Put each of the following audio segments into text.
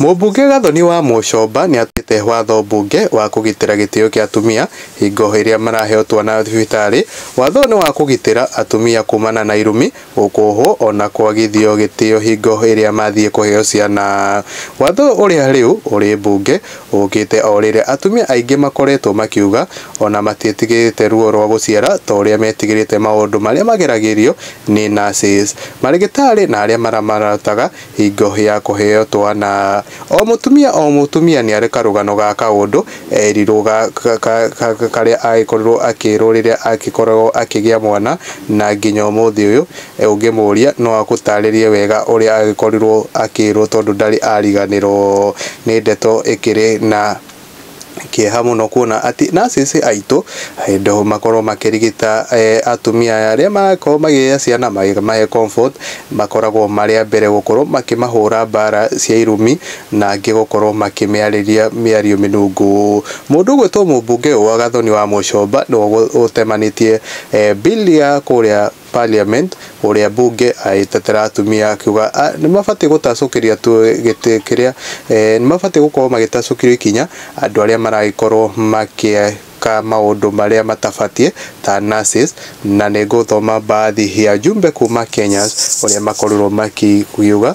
Mũmbunge Gathoni wa Mũcomba nĩatuĩte watho mbunge wa kũgitĩra gĩtĩo kĩa atumia hingo ĩrĩa maraheo twana thibitarĩ. Watho ũyũ nĩ wa kũgitĩra atumia kumana na irumi, gũkũũhwo ona kwagithio gĩtĩo hingo ĩrĩa mathiĩ kũheo ciana. Watho ũyũ ũrĩa rĩu ũrĩ mbunge ũkĩte o rĩrĩa atumia aingĩ makoretwo makiuga ona matiĩtigĩrĩte ruo rwa gũciara ta ũrĩa metigĩrĩte maũndũ marĩa mageragĩrio nĩ nurses, marĩgĩtarĩ na arĩa maramarutaga Hingo ya kũheo twana. O mũtumia o mũtumia nĩarĩ karũgano ga kaũndũ eerirwo ga karĩa agĩkorirwo akĩĩrwo rĩrĩa agĩkoragwo akĩgĩa mwana na nginya ũmũthĩ ũyũ ũngĩmũria no agũtaarĩrie wega ũrĩa agĩkorirwo akĩĩrwo tondũ ndarĩ ariganĩrwo nĩ ndeto ĩkĩrĩ na kĩeha mũno kuona atĩ nurses aitũ hĩndĩ makorwo makĩrigita eh, atumia aya arĩa marakorwo magĩgĩa ciana magĩ- mahe comfort makoragwo marĩ a mbere gũkorwo makĩmahũra mbara cia irumi na angĩ gũkorwo makĩmĩarĩria mĩario mĩnungu mũndũ ũgwĩtwo mũmbunge ũyũ wa gathoni wa mũcomba nĩwe ũgũ- ũtemanĩtie eh, bill ya kũrĩa Parliament, ũrĩa mbunge agĩtetera atumia akiuga nĩmabatiĩ gũtacũkĩria tu gĩtĩ kĩrĩa, nĩmabatiĩ gũkorwo magĩtacũkĩrio ikinya andũ arĩa maragĩkorwo magĩka maũndũ marĩa matabatiĩ ta nurses. Na nĩngũthoma baadhi ya jumbe kuuma Kenyans ũrĩa makorirwo makiuga.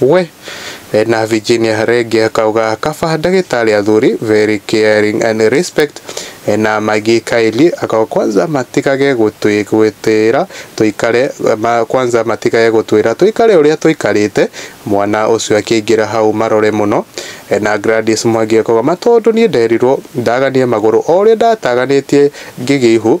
We! Ena Virginia Renge kauga kaba ndagĩtarĩ athuri very caring and respect Ena Maggie Kylie akauga kwanza matigage gũtwĩra tũikare ma, kwanza matigage gũtwĩra tũikare ũrĩa tũikarĩte mwana ũcio akĩingĩra hau marore mũno Ena Gladys Mwangi akauga matondũ niĩ nderirwo ndaganie magũrũ o ũrĩa ndataganĩtie ngĩgĩa ihu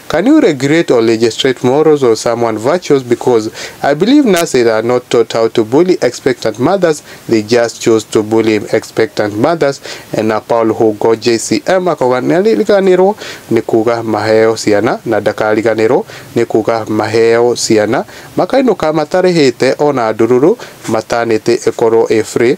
Can you regulate or legislate morals or someone virtues because I believe nurses are not taught how to bully expectant mothers they just choose to bully expectant mothers na Paul Hugo JCM akauga nĩariganĩrwo nĩ kuga maheo ciana na ndakariganĩrwo nĩ kuga maheo ciana makainũka matarĩhĩte ona ndururu maternity ĩkorwo ĩ free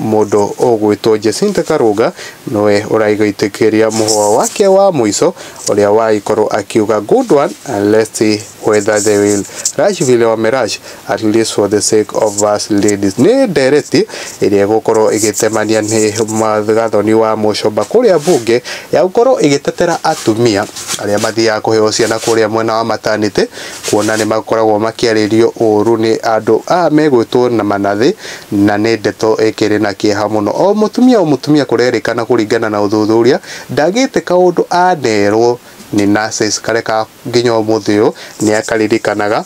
Mũndũ ũgwĩtwo Jacinta Karũnga nĩwe ũraigĩtĩkĩria mũhwa wake wa mũico ũrĩa wagĩkorwo akiuga good one let's see whether they will rush vile wamerush at least for the sake of us ladies. Nĩ ndereti ĩrĩa ĩgũkorwo ĩgĩtemania nĩ Gathoni wa Mũcomba kũrĩa mbunge ya gũkorwo ĩgĩtetera atumia arĩa mathiaga kũheo ciana kũrĩa mwena wa maternity kuona nĩ makoragwo makĩarĩrio ũru nĩ andũ aya megwĩtwo na manathĩ Na nĩ ndeto ĩkĩrĩ na kĩeha mũno. O mũtumia o mũtumia kũrerĩkana kũringana na ũthuthuria ndagĩte kaũndũ anerwo nĩ nurses karĩa ka nginya ũmũthĩ ũyũ nĩ akaririkanaga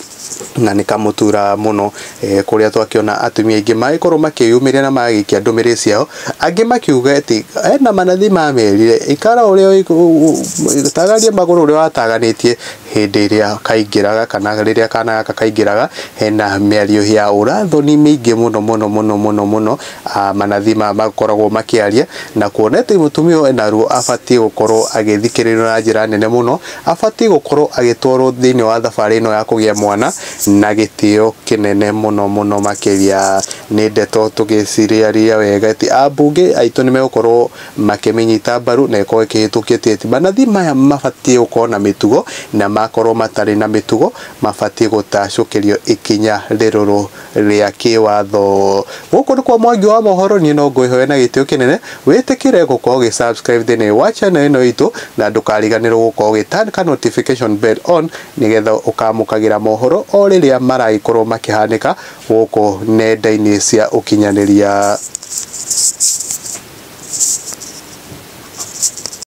na nĩ kamũturaga mũno eh, kũrĩa twakĩona atumia aingĩ magĩkorwo makĩyumĩria na magagĩikia ndũmĩrĩri ciao angĩ makiuga atĩ ena manathi mamerire ikara ũrĩa ũi- u- u- tagaria magũrũ ũrĩa wataganĩtie hĩndĩ ĩrĩa kaingĩraga kana rĩrĩa kana gaka kaingĩraga hena mĩario ya ũrathoni mĩingĩ mũno mũno mũno mũno mũno manathi maya makoragwo makĩaria na kuona atĩ mũtumia ũyũ ena ruo abatiĩ gũkorwo agĩthikĩrĩrio na njĩra nene mũno, abatiĩ gũkorwo agĩtwarwo thĩinĩ wa thabarĩ ĩno ya kũgĩa mwana na gĩtĩo kĩnene mũno mũno makĩria. Nĩ ndeto tũngĩcirĩarĩria wega atĩ ambunge aitũ nĩ megũkorwo... makĩmĩnyita mbaru na ĩkorwo ĩkĩhĩtũkio ti eti manathi maya mabatiĩ gũkorwo na mĩtugo na makorwo matarĩ na mĩtugo mabatiĩ gũtacũkĩrio ikinya rĩrũrũ rĩa kĩwatho. Gũkũ nĩkwo Mwangi wa Mohoro niĩ no ngwĩhoe na gĩtĩo kĩnene wĩtĩkĩre gũkorwo ũgĩ subscribe thĩinĩ wa channel ĩno itũ na ndũkariganĩrwo gũkorwo ũgĩ turn ka notification bell on nĩgetha ũkamũkagĩra mohoro o rĩrĩa maragĩkorwo makĩhanĩka gũkũ nenda-inĩ cia ũkinyanĩria.